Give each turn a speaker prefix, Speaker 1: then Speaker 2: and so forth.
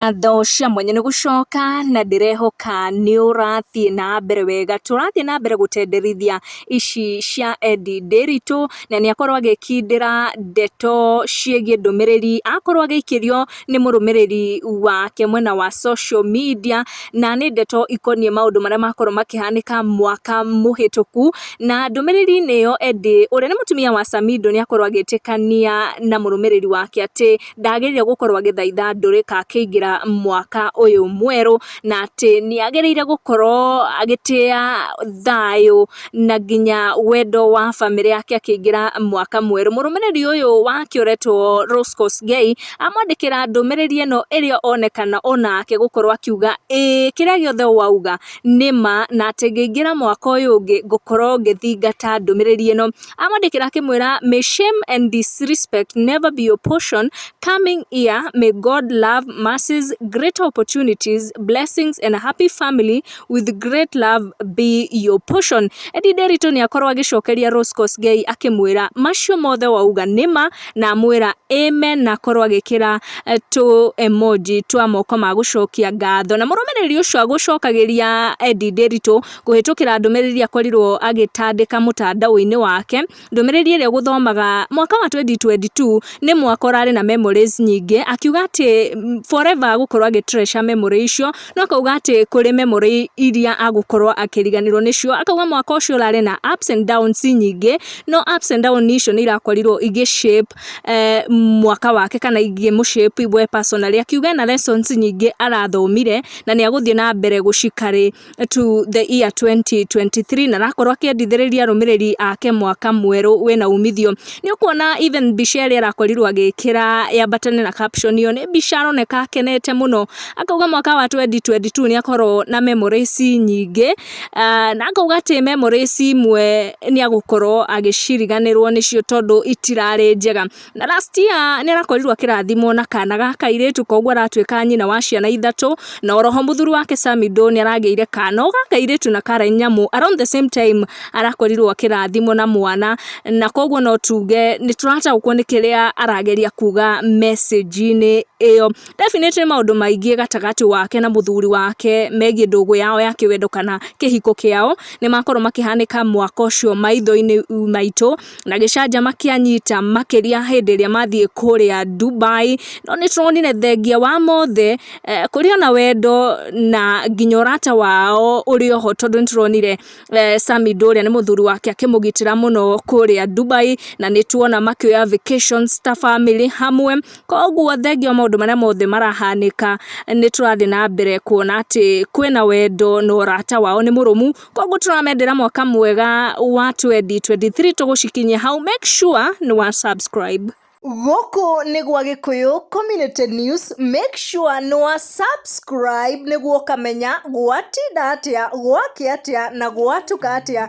Speaker 1: ngatho cia mwanya nĩ gũcoka na ndĩrehoka nĩ ũrathiĩ na mbere wega. Tũrathiĩ na mbere gũtenderithia ici cia Ed Ndiritu, na nĩ akorwo agĩkindĩra ndeto ciĩgiĩ ndũmĩrĩri akorwo agĩikĩrio nĩ mũrũmĩrĩri wake mwena wa social media. Na nĩ ndeto ikoniĩ maũndũ marĩa makorwo makĩhanĩka mwaka mũhĩtũku. Na ndũmĩrĩri-inĩ ĩyo Ed ũrĩa nĩ mũtumia wa Samido nĩ akorwo agĩtĩkania na mũrũmĩrĩri wake atĩ... ndagĩrĩire gũkorwo agĩthaitha ndũrĩrĩ kana akĩingĩra mwaka ũyũ mwerũ, na atĩ nĩ agĩrĩire gũkorwo agĩtĩa thayũ na nginya wendo wa bamĩrĩ yake akĩingĩra mwaka mwerũ. Mũrũmĩrĩri ũyũ wake ũretwo Rose Kosgei, amwandĩkĩra ndũmĩrĩri ĩno ĩrĩa onekana onake gũkorwo akiuga ĩĩ kĩrĩa gĩothe wauga nĩ ma, na atĩ ngĩingĩra mwaka ũyũ ũngĩ ngũkorwo ngĩthingata ndũmĩrĩri ĩno. amwandĩkĩra akĩmwĩra may shame and disrespect never be your portion coming year may God love mercies greater opportunities blessings and happy family with great love be your portion Eddy Nderitu nĩakorwo agĩcokeria Rose Kosgei akĩmwĩra macio mothe wauga nĩma na amwĩra amen na akorwo agĩkĩra eh, tũ emoji twa moko ma gũcokia ngatho na mũrũmĩrĩri ũcio agũcokagĩria Eddy Nderitu kũhĩtũkĩra ndũmĩrĩri iria akorirwo agĩtandĩka mũtandao-inĩ wake, ndũmĩrĩri ĩrĩa ũgũthomaga mwaka wa 2022 nĩ mwaka ũrarĩ na memories nyingĩ, akiuga atĩ forever agũkorwo agĩ treasure memory icio, no akauga atĩ kũrĩ memory iria agũkorwo akĩriganĩrwo nĩcio, akauga mwaka ũcio ũrarĩ na ups and downs nyingĩ, no ups and downs icio nĩ irakorirwo igĩ shape mwaka wake kana igĩ mũ shape we personally, akiuga ena lessons nyingĩ arathomire na nĩ agũthiĩ na mbere gũci carry. to the year 2023 na arakorwo akĩendithĩrĩria arũmĩrĩri ake mwaka mwerũ wĩna umithio. Nĩ ũkuona even mbica ĩrĩa arakorirwo agĩkĩra yambatane na caption ĩyo nĩ mbica aroneka akenete mũno. Akauga mwaka wa 2022 nĩ akorwo na memories nyingĩ na akauga atĩ memories imwe nĩ agũkorwo agĩciriganĩrwo nĩcio tondũ itirarĩ njega. Na last year nĩarakorirwo akĩrathimwo na kana ga kairĩtu koguo aratuĩka nyina wa ciana ithatũ, na oroho mũthuri wake Samido nĩaragĩire kana o ga kairĩtu na ka raini nĩamu around the same time arakorirwo akĩrathimwo na mwana, na koguo no tuge nĩtũrataũkwo nĩ kĩrĩa arageria kuga message-inĩ ĩyo. Definitely nĩ maũndũ maingĩ gatagatĩ wake na mũthuri wake megiĩ ndũgũ yao ya kĩwendo kana kĩhiko kĩao, nĩmakorwo makĩhanĩka mwaka ũcio maitho-inĩ maitũ. na gĩcanjama kĩanyita makĩria hĩndĩ ĩrĩa mathiĩ kũrĩa Dubai, no nĩtũronire thengia wa mothe kũrĩ ona wendo na nginya ũrata wao ũrĩ oho tondũ nĩtũronire Sammy Ndũ ũrĩa nĩ mũthuri wake akĩmũgitĩra mũno kũrĩa Dubai, na nĩtuona makĩoya vacations ta bamĩrĩ hamwe, koguo thengia wa maũndũ marĩa mothe marahanĩka nĩtũrathiĩ na mbere kuona atĩ kwĩna wendo na ũrata wao nĩ mũrũmu. Koguo tũramendera mwaka mwega wa 2023 tũgũcikinyia hau. Make sure nĩ wa subscribe. Gũkũ
Speaker 2: nĩ gwa Gĩkũyũ Community News, make sure nĩ wa subscribe nĩguo ũkamenya gwatinda atĩa, gwakĩa atĩa na gwatuka atĩa.